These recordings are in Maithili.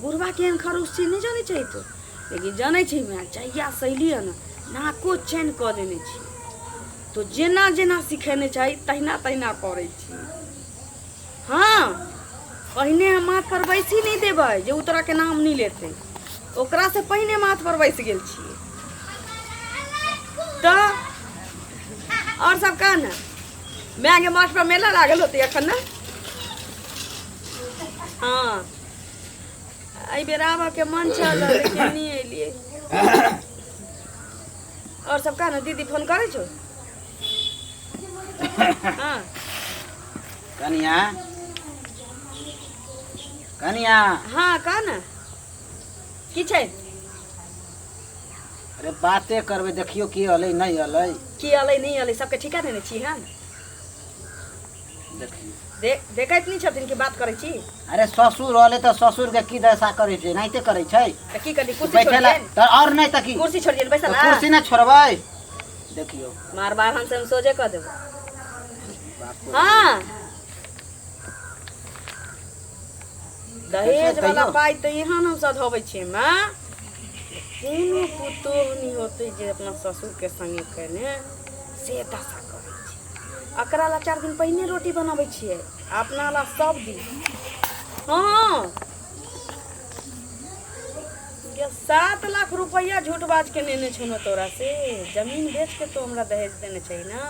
बुढ़वा केहन खरूस छै नहि जानै छै तो लेकिन जानै छै माय जहिया सैली है ने नाको चैन कऽ लेने छी तो जेना जेना सिखेने छै तहिना तहिना करै छी हाँ पहिने हम माथ पर बैसी नहीं देबै जे ओ तोरा के नाम नहीं लेते ओकरा से पहिने माथ पर बैस गेल छियै तो और सब कह ने माय के माथ पर मेला लागल होते अखन ने हाँ एहि बेर आबऽ के मन छल लेकिन नहीं एलिए और सब का ना दीदी फोन करे छो हाँ कनिया कनिया हाँ कह ना की छै अरे बाते करबे देखियो की अलै नहीं अलै की अलै नहीं अलै सबके ठिका देने छी हम दे, देखैत नहि छथिन कि बात करै छी अरे ससुर रहले तऽ ससुर के की दशा करे छै नाहिते करे छै तऽ की करी कुर्सी छोड़ि बैठेला दियनि तऽ और नहीं तऽ की कुर्सी छोड़ि दियनि बैसल तऽ कुर्सी ना छोड़बै देखियो मार बार हम हम सोझे कऽ देबै हँ दहेज वाला पाइ तऽ यहाँ हम सधबै छियै माँ कोनो पुतोह नहि होतै जे अपना ससुरके संगे कने से दशा करै छै एकरा लए चारि दिन पहिने रोटी बनबै छियै अपना लए सब दिन हँ सात लाख रुपैआ झूठ बाज के नेने छौ ने तोरा से जमीन बेच के तो हमरा दहेज देने छै ना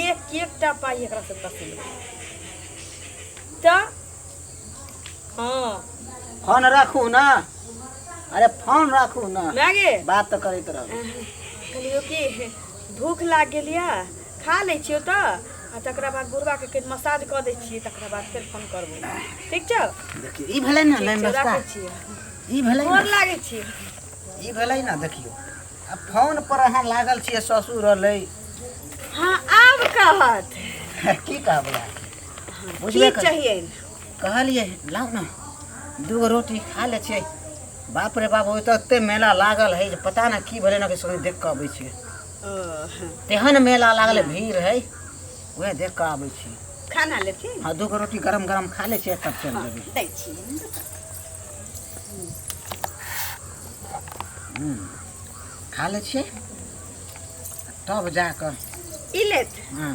एक एकटा पाइ एकरा से तकले तऽ हाँ फोन राखू ना अरे फोन राखू ना मैं गे बात तो करैत रहब कहलियो कि भूख लाग गेल या खा लै छियो तऽ आ तकरा बाद बुढ़वा के कनि मसाज कऽ दै छियै तकरा बाद फेर फोन करबो ठीक छौ देखियौ ई भेलै ने लाइन ठीक छौ, रस्ता राखै छियै ई भेलै गोर ने लागै छियै ई भेलै ने देखियौ आ फोन पर अहाँ लागल छियै ससुर रहलै हाँ आब कहत की कहबै अहाँ? बुझबे कर चाहिए कहलिए लाओ ना दूगो रोटी खा ले छे बाप रे बाप ओत एते मेला लागल है जे पता ना की भेलै ना कि सोनी देख के अबै छे तेहन मेला लागल भीड़ है वह देख के अबै छे खाना ले छी हाँ दूगो रोटी गरम गरम खा ले छे तब चल जेबै दै छी खा ले छे तब जाकर ई लेत हाँ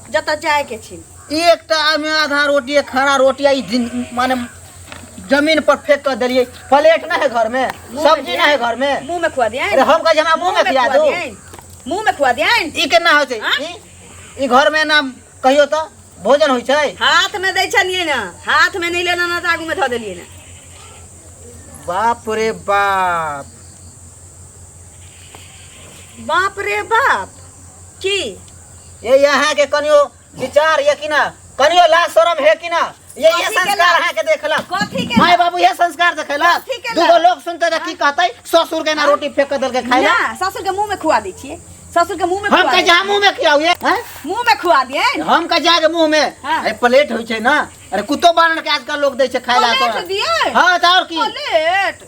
जतऽ जाए के छी एकटा आमे आधा रोटी एक खड़ा रोटी आई दिन माने जमीन पर फेंक कर देलिए प्लेट ना है घर में मुंह में सब्जी ना है घर में मुंह में खुआ दिए अरे हम कहे हमरा मुंह में खिला दो मुंह में खुआ दिए ई केना होय छै हाँ? ई ई घर में ना कहियो तो भोजन होय छै हाथ में दै छलिए ना हाथ में नहीं लेना ना तो आगू में धो देलिए ना बाप रे बाप बाप रे बाप की ये यहाँ के कनियो विचार ये कि ना कनियो लाज शरम है कि ना ये ये कथी के संस्कार लाज? है के देखला कथी के माय बाबू ये संस्कार देखला कथी के दूगो लाज? लोग सुनते रह की कहते ससुर के ना रोटी फेंक दल के खाइला ना ससुर के मुंह में खुआ दी छिए ससुर के मुंह में हम खुआ का दी। जा मुंह में खियाऊ ये हैं? मुंह में खुआ दिए हम का जाके मुंह में हाँ। अरे प्लेट होइ छै ना अरे कुत्तो बारण के आजकल लोग दै छै खाइला प्लेट तो दिए हां त और की प्लेट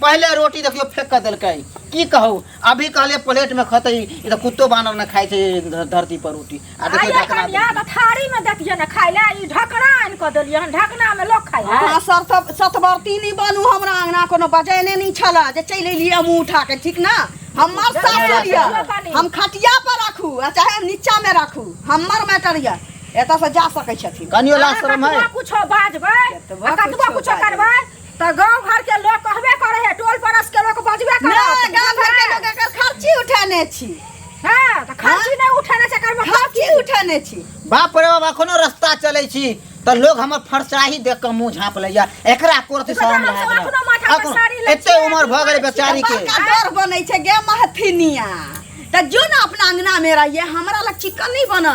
पहले रोटी देखियो फेंक के देलकै की कहू अभी कहले प्लेट में खतै ई त कुत्तो बानर न खाइ छै ध- धरती पर रोटी आ देखियो आइए ढकना कनिया तऽ थारी में देखिए ने खाय ले ई ढकना आनि कऽ देलियै हन ढकना में लोग खाय है अहाँ सत सतवर्ती नहि बनू हमरा अंगना कोनो बजेने नहि छलए जे चलि एलियै हमहूँ उठा के ठीक ने हमर साथ चलि एलियै। यऽ हम खटिया पर राखू आ चाहे नीचा में राखू हमर मैटर यऽ एतऽ से जा सकै छथिन कनियो लाज शरम है कुछो बाजबै एतबा आ कतबो कुछो कुछो बाजबै। करबै त गांव घर के लोग कहबे करे है टोल परस के लोग बजबे करे नहीं गांव घर के लोग एकर खर्ची उठाने छी हां त खर्ची हाँ? नहीं उठाने से कर खर्ची उठाने छी बाप रे बाबा कोनो रास्ता चले छी त लोग हमर फरसाही देख के मुंह झांप लैया एकरा कोरत शर्म लगा एते उम्र भ गेल बेचारी के डर बनै छै गे महथिनिया त जो ना अपना अंगना में रहिए हमरा लग चिकन नहीं बना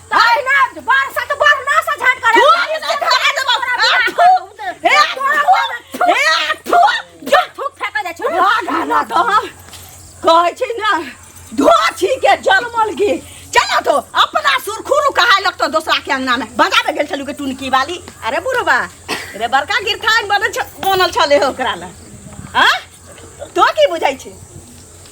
सही ना बरसा तो बरना से झट करे तू आगे तो धरा दे बाप थू हे थू हे थू जो थूक फेंक दे छु राधा ना तो हम कहै छी ना धोछी के जलमल गे चलो तो अपना सुरखुरु कहा लगतो दोसरा के अंगना में बजा दे गेल छलु के टुनकी वाली अरे बुढ़वा रे बड़का गिरथान बनल छ बनल छले हो ओकरा ले हां तो की बुझै छी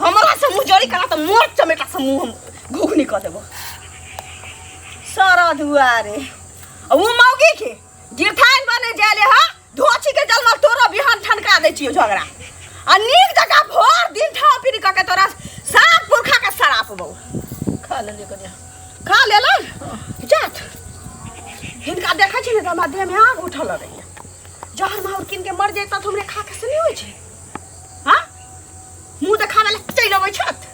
हमरा से मुँह जड़ी करा तऽ मोट चमेटा से मुँह हम घुघनी कऽ देबो सारा दुआरे आ ओ मौगी के गिरथाइन बने जाले हा धोची के जलमा तोरा बिहान ठनका दै छियो झगड़ा आ नीक जकाँ भर दिन ठा फिर कऽ के तोरा साफ पुरखा के सराप बौ खा लेलिए कनिया खा लेलन जात हिनका देखै छी ने तऽ हमरा देहमे आग उठल रहैए जहन माहौर कीन के मर जैता तऽ हमरे खा के से नहि होइ छै मुँह देखाबै लए चलि अबै छथि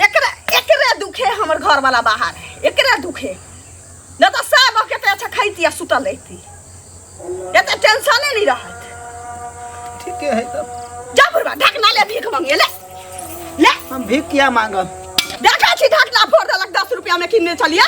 एकरे एकरे दुखे हमर घरवला बाहर है एकरे दुखे नहि तऽ सभ कते अच्छा खैती आ सुतल रहिती एते टेंशने नहि रहत ठीके है तब जा बुढ़वा ढकना ले भीख मंगे ले ले हम भीख किया मांगब देखै छी ढकना फोड़ देलक दस रुपैआमे किनने छलियै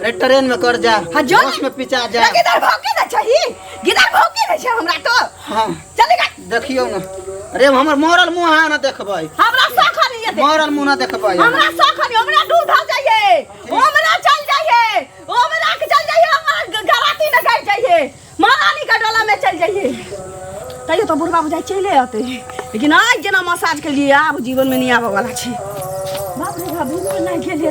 अरे ट्रेन में कर जा हाँ, जो बस ना। में पिचा जा गिदर भौके ना चाहिए गिदर भौके ना चाहिए हमरा तो हाँ चले गए देखियो ना अरे हमर मरल मुंह है ना देखबै हमरा शौक है ये देख मरल मुंह ना देखबै हमरा शौक है हमरा दूध हो जाइए हमरा चल जाइए हमरा के चल जाइए हमरा गराती न कर जाइए महारानी का डोला में चल जाइए तैयो तो बुढ़बा बुझाइ चले अते लेकिन आज जेना मसाज के लिए आब जीवन में नहीं आबे वाला छै बाप रे बाप भूख नहीं खेले